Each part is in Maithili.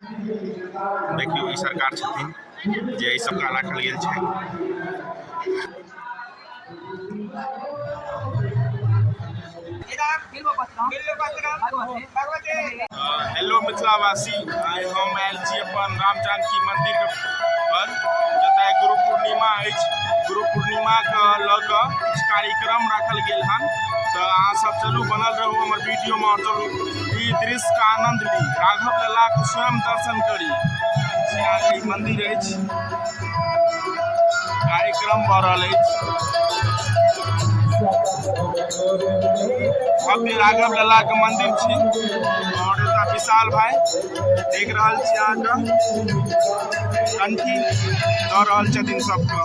देखियौ ई सरकार छथिन जे एहि सबका राखल गेल छै हेलो मिथिलावासी आइ हम आयल छी अपन राम जानकी मन्दिर पर जतय गुरु पूर्णिमा अछि गुरु पूर्णिमाके लऽ कऽ किछु कार्यक्रम राखल गेल हन तऽ अहाँ सब चलू बनल रहू हमर वीडियोमे चलू ई दृश्यके आनन्द ली राघव ललाके स्वयं दर्शन करी सियाजी मन्दिर अछि कार्यक्रम भऽ रहल अछि भव्य राघव ललाके मन्दिर छी आओर एतऽ विशाल भाइ देख रहल छी अहाँके कंठी दऽ रहल छथिन सबके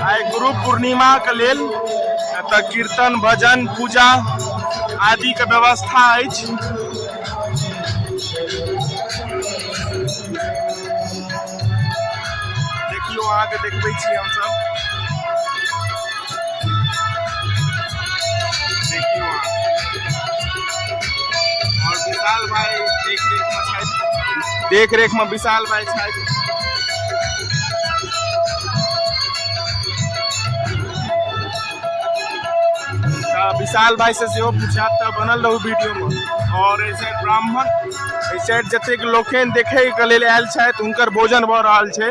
आइ गुरु पूर्णिमाके लेल एतऽ कीर्तन भजन पूजा आदिके व्यवस्था अछि देखियौ अहाँके देखबै छी हमसभ देखरेखमा विशाल भाइ छथि विशाल भाई से सेहो पूछा तो बनल रहू वीडियो में और ऐसे ब्राह्मण ऐसे जतेक लोकनि देखैके लेल आयल छथि हुनकर भोजन भऽ रहल छै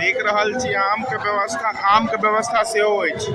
देख रहल छी आमके व्यवस्था आमके व्यवस्था सेहो अछि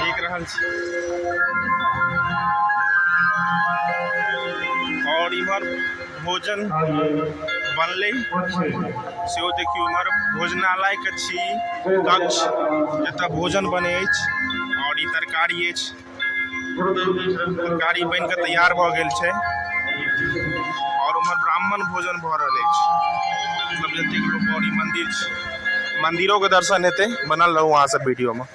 देख रहल छी और इमहर भोजन बनलै सेहो देखियौ इमहर भोजनालय के छी कक्ष जतय भोजन बनै अछि और ई तरकारी अछि। गाड़ी बनि कऽ तैयार भऽ गेल छै आओर ओमहर ब्राह्मण भोजन भऽ रहल अछि मतलब जतेक लोक आओर ई मन्दिर छै मन्दिरोके दर्शन हेतै बनल रहू अहाँ सब वीडियोमे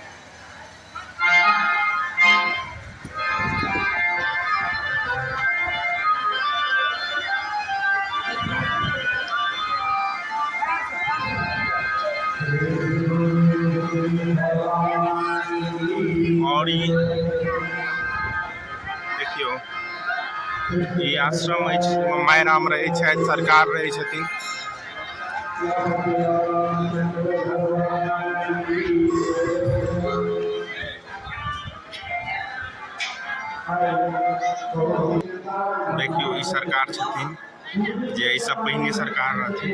और ई देखियौ ई आश्रम अछि माय राम रहै छथि सरकार रहै छथिन देखियौ ई सरकार छथिन जे एहिसँ पहिने सरकार रहथिन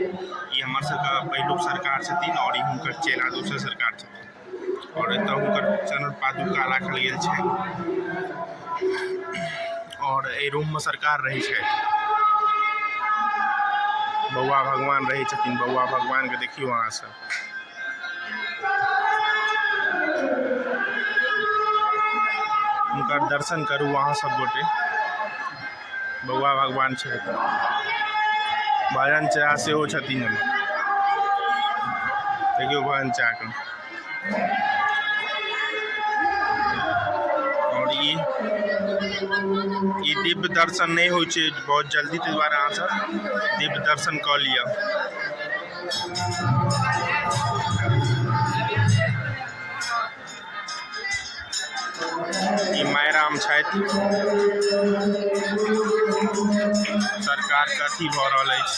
ई हमर सबके पहिलुक सरकार छथिन आओर ई हुनकर चेला दोसर सरकार छथिन आओर एतऽ हुनकर चरण पादुका राखल गेल छै आओर एहि रूममे सरकार रहै छै बौआ भगवान रहै छथिन बौआ भगवानके देखियौ अहाँ सब हुनकर दर्शन करू अहाँ सब गोटे बौआ भगवान छै भजन चाह सेहो छथिन देखियौ भजन चाहके आओर ई ई दिव्य दर्शन नहि होइ छै बहुत जल्दी ताहि दुआरे अहाँसभ दिव्य दर्शन कऽ लिअ ई मायराम छथि सरकारके अथी भऽ रहल अछि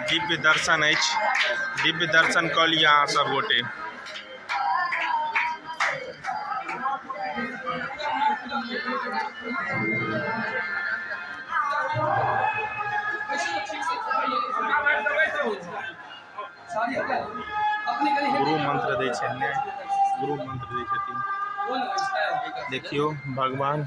दिव्य दर्शन अछि दिव्य दर्शन कऽ लिअ अहाँ सब गोटे गुरु मंत्र दै छथिन गुरु मंत्र दै छथिन देखियौ भगवान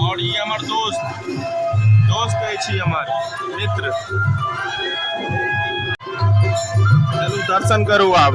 और ये हमार दोस्त दोस्त है छी हमार मित्र चलू दर्शन करू आब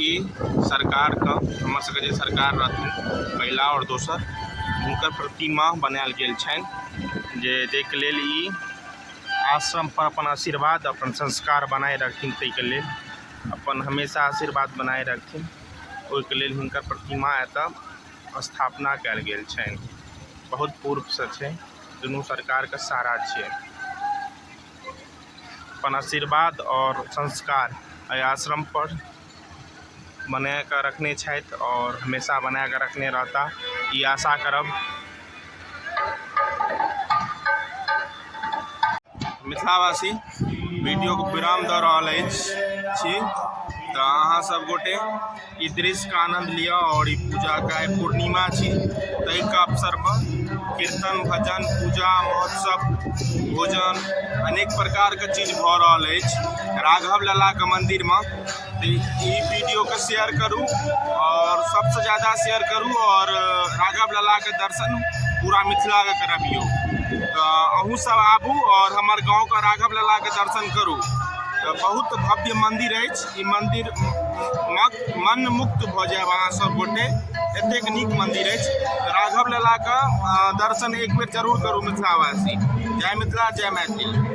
ई सरकारके हमर सबके जे सरकार रहथिन पहिला आओर दोसर हुनकर प्रतिमा बनायल गेल छनि जे जाहिके लेल ई आश्रम पर अपन आशीर्वाद अपन संस्कार बनाए रखथिन ताहिके लेल अपन हमेशा आशीर्वाद बनाए रखथिन ओहिके लेल हुनकर प्रतिमा एतऽ स्थापना कयल गेल छनि बहुत पूर्वसँ छै दुनू सरकारके सहारा छियै अपन आशीर्वाद आओर संस्कार एहि आश्रम पर बनाए कऽ रखने छथि आओर हमेशा बनाए कऽ रखने रहता ई आशा करब मिथिलावासी वीडियोके विराम दऽ रहल अछि छी तऽ अहाँ सब गोटे ई दृश्यके आनन्द लिअ आओर ई पूजाके आइ पूर्णिमा छी ताहिके अवसरमे कीर्तन भजन पूजा महोत्सव भोजन अनेक प्रकारके चीज भऽ रहल अछि राघव ललाके मन्दिरमे ई वीडियोके शेयर करू आओर सबसँ ज्यादा शेयर करू आओर राघव ललाके दर्शन पूरा मिथिलाके करबियौ तऽ अहूँ सब आबू आओर हमर गाँवके राघव ललाके दर्शन करू तऽ बहुत भव्य मन्दिर अछि ई मन्दिर मन मुक्त भऽ जायब अहाँ सब गोटे एतेक नीक मन्दिर अछि राघव ललाके दर्शन एक बेर जरूर करू मिथिलावासी जय मिथिला जय मैथिली